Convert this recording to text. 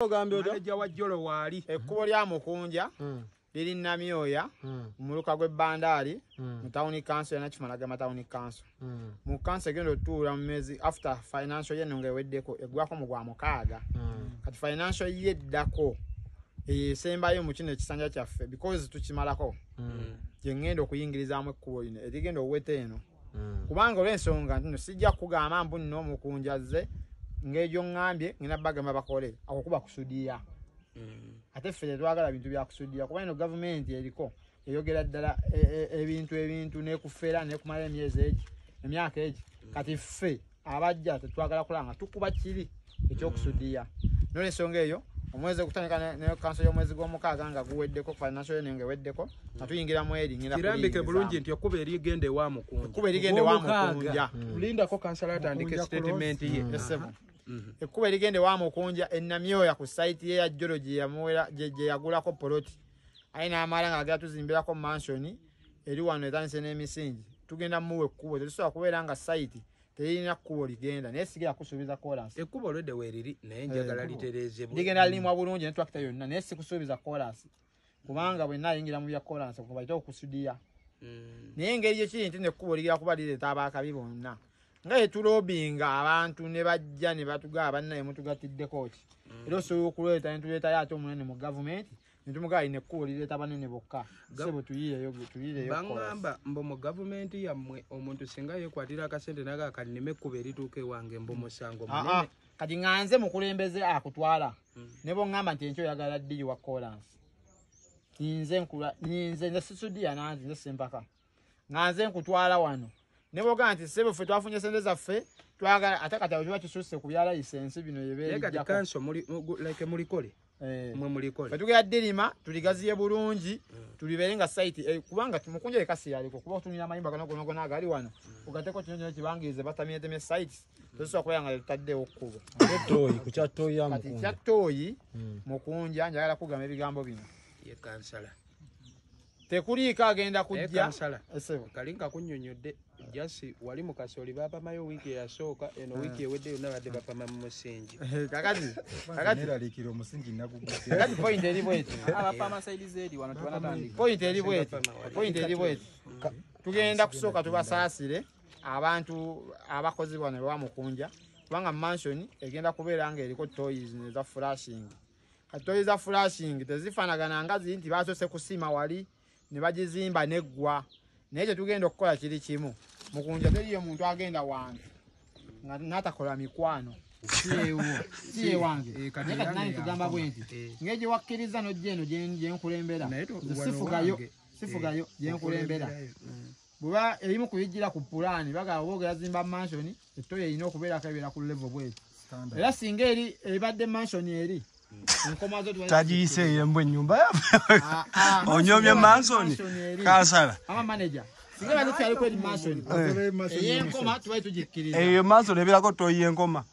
maneja wa jolo waali ekkubo lya mukunja hmm. liri namyoya hmm. muluka gw'e bandaali hmm. mu tawuni kanso yona kimalagama tawuni kanso mu kanso egenda otuula mu mezi after financial ye nonga eweddeko eggwako mu gwa mukaaga kati financial ye eddako esembayo mu kino ekisanja kyaffe because tukimalako gye ngenda okuyingirizaamu ekkubo lino erigenda oweta eno mm. kubanga olwensonga ntino sijja kugamba mbu nno omukunjazze ngaegyo ŋŋambye ngenda bagamba bakole ako kuba kusudiya mm. ate ffe tetwagala bintu byakusudiya kuba ino gavumenti eriko eyogera ddala e, e, ebintu ebintu nekufera nekumala emyezi egi emyaka egi mm. kati ffe abajja tetwagala kulanga tukuba kibi ekyokusudiya mm. nole ensonga eyo omwezi okutandika ne kanso y'omwezi gw'omukaaga nga guweddeko financial year nga eweddeko nga mm. tuyingira mu eri ngira kirambike bulungi nti okuba erigenda ewa mukunja okuba erigenda ewa mukunja mm. lindako kansala atandike statement ye mm-hmm. ekkuba erigenda ewa mukunja enamyoya ku site ye ya jolo gye yagulako poloti aye n'amala nga agera tuzimbirako mansoni eri wano etandise n'emisingi tugenda muwa ekkubo tetusobola kubeera nga sayiti teyirina kkubo ligenda naye sigera kusuubiza kolansi ekkubo olwedde weeriri naye njagala eh, litereezebwa ligenda lirimwa bulungi ne twakita yonna naye sikusuubiza kolansi kubanga bwenna ayingira mu bya kolansi kubaite okusudiya hmm. naye engeri gyekiri nti nekkubo ligera kuba lireeta abaakabi bonna nga yetulobinga abantu ne bajja ne batugaa bannaye mutugattiddeko ki hmm. era osobola okuleeta netuleetayo ate omunene mu gavumenti Ndi muka ine kuuli leta banene boka. Sebo tuyiye yogu, tuyiye yogu. Bangamba mbo mu government ya mwe omuntu singa ye kwa tira kasende naga kanime kuberi tuke wange mbo musango ah, munene. Ah. Kati nganze mukulembeze akutwala. Hmm. Nebo ngamba nti encho yagala dili wa callance. Ninze nkula, ninze nze sisudi ya nanzi, nze sempaka. nga nze nkutwala wano ne bwoga nti sebo ffe twafunye sente zaffe twagala ate kati abiba kisusse ku bya layisensi bino yebemulikole eh. fetugera dirima tuligaziye bulungi mm. tulibeere nga site eh, kubanga mukunja ekasi yaliko kuba otunira amayimba gano gonagona agali wano mm. ogateko kino kino kibangirize batamieteme sites mm. tosobola kubeera nga tetaddewo kkubo kyattoyi mukunja njagala kugamba ebigambo bino yekansala tekuliiko agenda kujja kali nga kunyonyodde jasi wali mukasoli bapamayo wiiki eyasooka eno wiiki ewedde yonna badde bapama mu musingi kakatiralikira omusingi nagugukati point eri bweti point eri bweti point eri bweti tugenda kusooka tubasaasire abantu abakozebwa ne bamukunja kubanga mansion egenda kubeera nga eriko toys neza furashing katoyi za flashing tezifanagana nga ziri nti basose kusima wali ne bagizimba neggwa naye kyetugenda okukola kiri kimu mukunja teriyo muntu agenda wange nga natakola mikwano siyewangetugamba eh, bwenti eh. ngaegye wakkiriza nojja eno gyenkulembera sifugayo sifugayo gyenkulembera bweba ebimu ku bijjira ku pulaani bagala oba ogeyazimba mansioni ettoyo erina okubeerako ebeera ku levo bweri era singa eri ebadde mansioni eri tagiyise eyembu enyumba ah, ah, onyomye mansoni kansala eyo mansoni ebeerako toyi enkoma